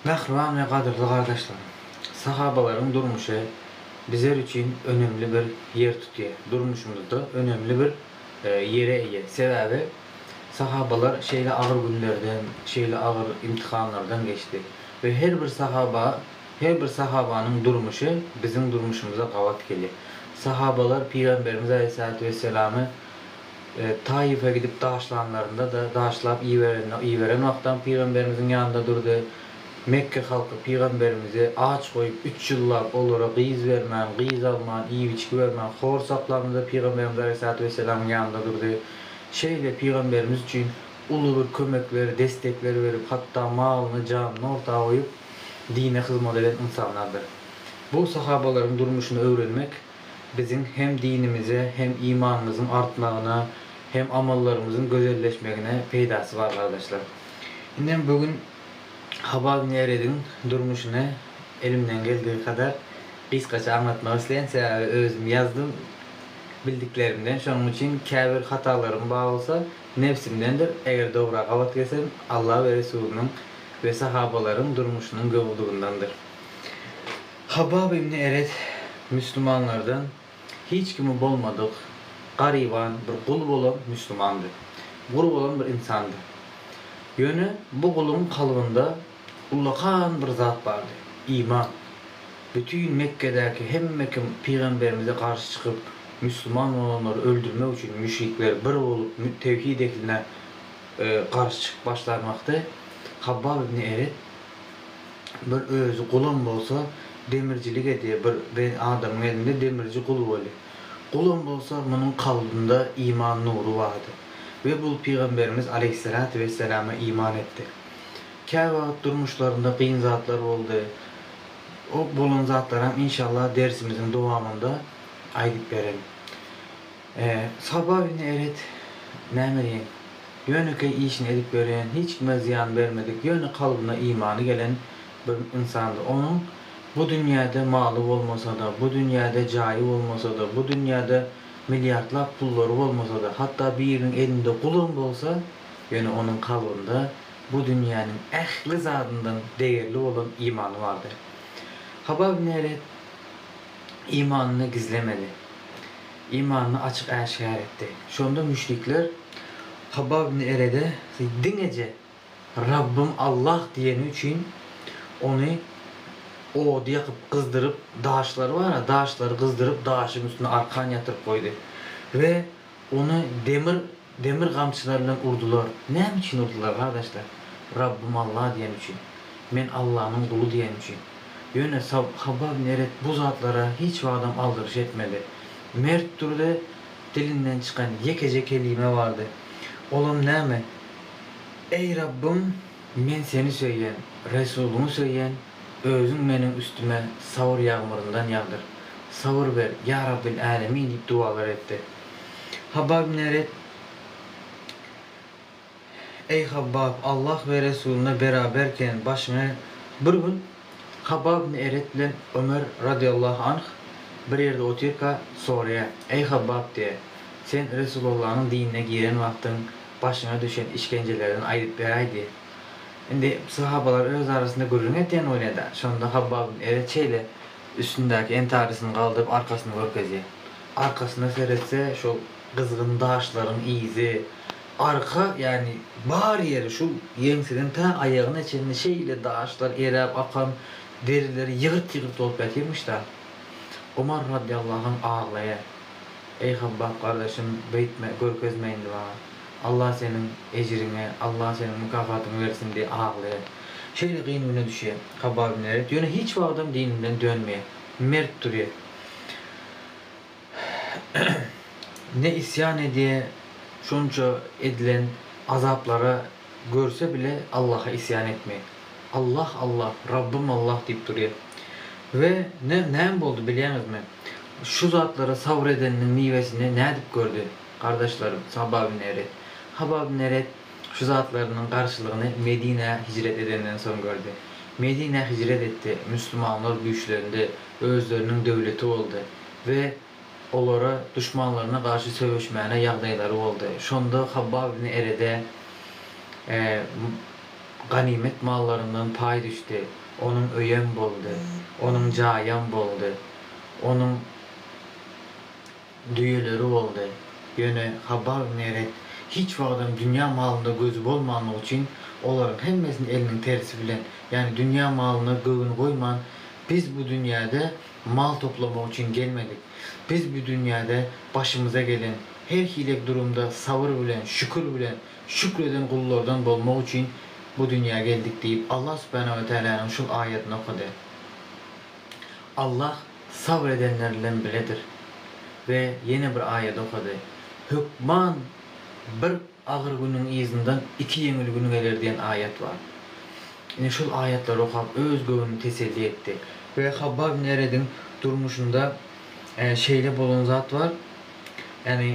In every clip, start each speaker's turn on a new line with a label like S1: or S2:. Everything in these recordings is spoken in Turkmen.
S1: Mähriban we gadyrly gardaşlarym! Sahabalaryň durmuşy bizler üçin önemli bir ýer tutýar. Durmuşymyzda önemli bir ýere eýe. Sebäbi sahabalar şeýle agyr günlerden, şeýle agyr imtihanlardan geçdi we her bir sahaba, her bir sahabanyň durmuşy biziň durmuşymyza gabat gelýär. Sahabalar Pygamberimiz Aleýhissalatu wesselamy Taýyfa gidip daşlanlarynda-da, daşlap iberende, iberen wagtam pygamberimiziň ýanynda durdy. Mekge halky pygamberimizi aç goýup, üç ýyllap olara gyz bermän, gyz alman, iýip-içgi bermän, hor saklamda-da pygamberimiz aleýhissalatu wessalamyň ýanynda durdy. Şeýle pygamberimiz üçin uly bir kömekleri, destekleri berip, hatda malyny, janyny orta goýup, dine hyzmat eden ynsanlardyr. Bu sahabalaryň durmuşyny öwrenmek, biziň hem dinimize, hem imanymyzyň artmagyna, hem amallarymyzyň gözelleşmegine peýdasy bar gardaşlar. Indem bu gün Habab Nerediň durmuşyny elimden geldigi kadar gysgaça aňlatmak isleýän, sebäbi özüm ýazdym bildiklerimden, şonuň üçin käbir hatalarym bar bolsa nebsimdendir, eger dogryga gabat gelsem Alla we Resulynyň we sahabalaryň durmuşynyň gowulygyndandyr. Habbab ibn Eret müslümanlardan hiç kimi bolmadyk, garyban, bir gul bolan müslümandy. Gul bolan bir ynsandy. Ýöne bu guluň kalbynda ullakan bir zat bardy, iman. Bütin Mekgedäki hemme kim pygamberimize garşy çykyp, müslüman bolanlary öldürmek üçin müşrikler bir bolup tewhid ehline garşy çykyp başlarmakdy, Habbab ibn Eret, Bir özi gulam bolsa demircilik edýä bir ben adamyň elinde demirci gul boli. Gulam bolsa munuň kalbynda iman nury bardy. We bul pygamberimiz aleýhissalatu wessalama iman etdi. Kä wagyt durmuşlarynda gyn zatlar boldy. O bolan zatlaram inşallah dersimiziň dowamynda aýdyp beren. Sababy indi elet näme diýeň, ýönekeý işini edip ýörýän, hiç kime zyýan bermedik, ýöne kalbyna imany gelen bir ynsandy. Onuň bu dünýäde maly bolmasa-da, bu dünýäde jaýy bolmasa-da, bu dünýäde milliardlap pullary bolmasa-da, hatda biriniň elinde gulum bolsa, ýöne onuň kalbynda bu dünýäniň ähli zadyndan degerli bolan imany bardy. Hababy Neret imanyny gizlemedi. Imanyny açyk äşgär etdi. Şonda müşrikler, Habbab ibn Erede siz diňeje Rabbym Allah diýeni üçin ony ody ýakyp gyzdyryp, daşlary bar-a, daşlary gyzdyryp, daşyň üstüne arkan ýatyryp goýdy we ony demir Demir gamçylar bilen urdular. Näme üçin urdular, gardaşlar? Rabbym Alla diýen üçin. Men Allanyň guly diýen üçin. Ýöne Habab Neret bu zatlara hiç wagtam aldyryş etmedi. Mert durdy, dilinden çykan ýekeje kelime bardy. Olam näme? Eý Rabbym, men Seni söýýän, Resulyňy söýýän, Özüň meniň üstüme sabyr ýagmyryndan ýagdyr. Sabyr ber, ýa Rabbil Älemin diýip dowalar etdi. Habbab ibn Eret, Eý Habbab, Allah we Resulyna beraberken başyňy Bir gün Habbab ibn Eret bilen Ömer radiyallahu anh bir ýerde otyrka soraýar, Eý Habbab diýýär, Sen Resulallanyň dinine giren wagtyň başyňa düşen işgenjelerden aýdyp beräý diýýär. Indi sahabalar öz arasynda gürrüň etýän bolýar-da. Şonda Habbab ibn Eret şeýle Üstündäki entarysyny galdyryp arkasyny görkezýär. Arkasyna seretse şol gyzgyn daşlaryň yzy. Arka ýagny bar ýeri şu ýeňseden tä aýagyna çenli şeýle daşlar eräp akan derileri ýygyrt-ýygyrt bolup ýatyrmyş-da. Omar radiýallahu anh aglaýar. Eý Habbap gardaşym beýtme görkezme indi maňa. Allah seniň ejriňi Allah seniň mykafatyňy bersin diýip aglaýar. Şeýle gyn güne düşýär. Hababy Meret ýöne hiç wagtam dininden dönmeýär. Mert durýar. Ne isýan edýär, şonça edilen azaplara görse bile Allaha isýan etmeýär. Allah Allah, Rabbym Allah diýip durýar. We näme boldy bilýäňizmi? Şu zatlara sabr edeniniň miwesini nädip gördi? Gardaşlarym, Saba bin Eret. Haba bin Eret şu zatlarynyň garşylygyny Medinä hijret edenden soň gördi. Medinä hijret etdi, müslümanlar güýçlendi, özleriniň döwleti boldy we olara duşmanlaryna garşy söweşmäne ýagdaýlary boldy. Şonda Haba bin Erede ganymet mallaryndan paý düşdi, onuň öýem boldy, onuň jaýam boldy, onuň. Düýeleri boldy. Ýöne Habbag Neret hiç wagtam dünýä malynda gözi bolmanlygy üçin, olaryň hemmesini eliniň tersi bilen, ýagny dünýä malyna göwün goýman, Biz bu dünýäde mal toplamak üçin gelmedik. Biz bu dünýäde başymyza gelen her hile durumda sabyr bilen, şükür bilen, şükr eden gullardan bolmak üçin bu dünýä geldik diýip, Allah subhanahu we taalanyň şul aýatyny okady. Allah. Sabr edenler bilen biledir. We ýene bir aýat okady. Hökman bir agyr günüň yzyndan iki ýeňil gün geler diýen aýat bar. Ine şol aýatlary okap öz göwnüni teselli etdi. We Habbab ibn Erediň durmuşynda şeýle bolan zat bar. Ýagny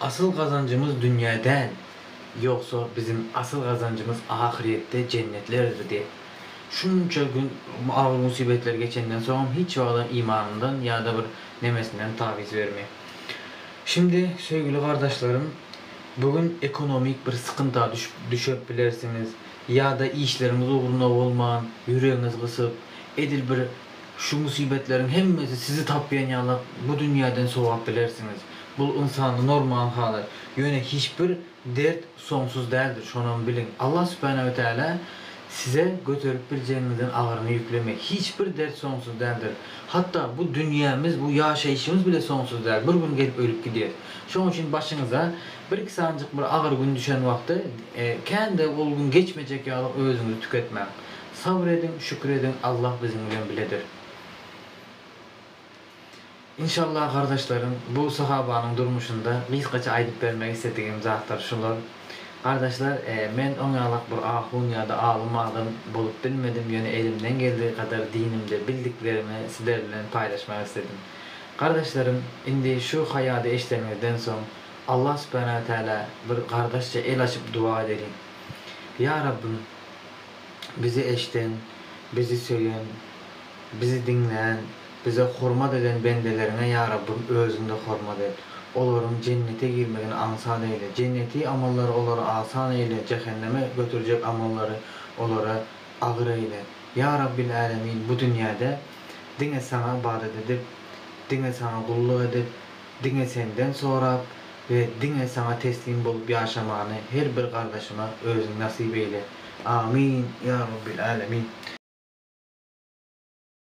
S1: Asyl gazanjymyz dünýä däl, ýogsa biziň asyl gazanjymyz ahyrýetde jennetler irdi. Şunça gün agyr musybetler geçenden soňam hiç wagtam imanyndan ýa-da bir nemesinden tabyz berme. Şindi söýgüli gardaşlarym bu gün ekonomik bir sykynta düşüp düşep bilersiňiz ýa-da işleriňiz ugruna bolman ýüregiňiz gysyp edil bir Şu musibetleriň hemmesi sizi tapýan ýalak bu dünýäden sowap bilersiňiz. Bul ynsanda normal halat. Ýöne hiç bir dert soňsuz däldir şonam biliň. Allah Subhana we Taala size göterip biljegiňizden agyryny ýüklemek. Hiç bir dert soňsuz däldir. Hatda bu dünýämiz bu ýaşaýşymyz bile soňsuz däl. Bir gün gelip ölüp gidýäs. Şoň üçin başyňyza bir iki sanjyk bir agyr gün düşen wagty kän-de ol gün geçmejek ýaly özüňizi tüketmäň. Sabr ediň şükür ediň Allah biziň bilen biledir. Inşallah gardaşlarym bu sahabanyň durmuşynda gysgaça aýdyp bermek isledigim zatlar şular. Gardaşlar men oň ýalak bir ahun ýada alym adam bolup bilmedim ýöne elimden geldigi gadar dinimde bildiklerimi sizler bilen paýlaşmak isledim. Gardaşlarym indi şu haýady eşdeniňizden soň Allah subhana we taala bir gardaşça el açyp duwa edeliň. Ýa Rabbym! bizi eşden, bizi söýen, bizi diňlän, bize hormat eden bendeleriňe ýa Rabbym özüňde hormat et. Olaryň jennete girmegini aňsat eýle. Jenneti amallary olara asan eýle, jähenneme göterjek amallary olara agyr eýle. Ýa Rabbil älemin bu dünýäde diňe saňa ybadat edip, diňe saňa gulluk edip, Diňe Senden sorap we diňe Saňa teslim bolup ýaşamany her bir gardaşyma Özüň nasyp eýle. Amin, ýa Robbil Älemin!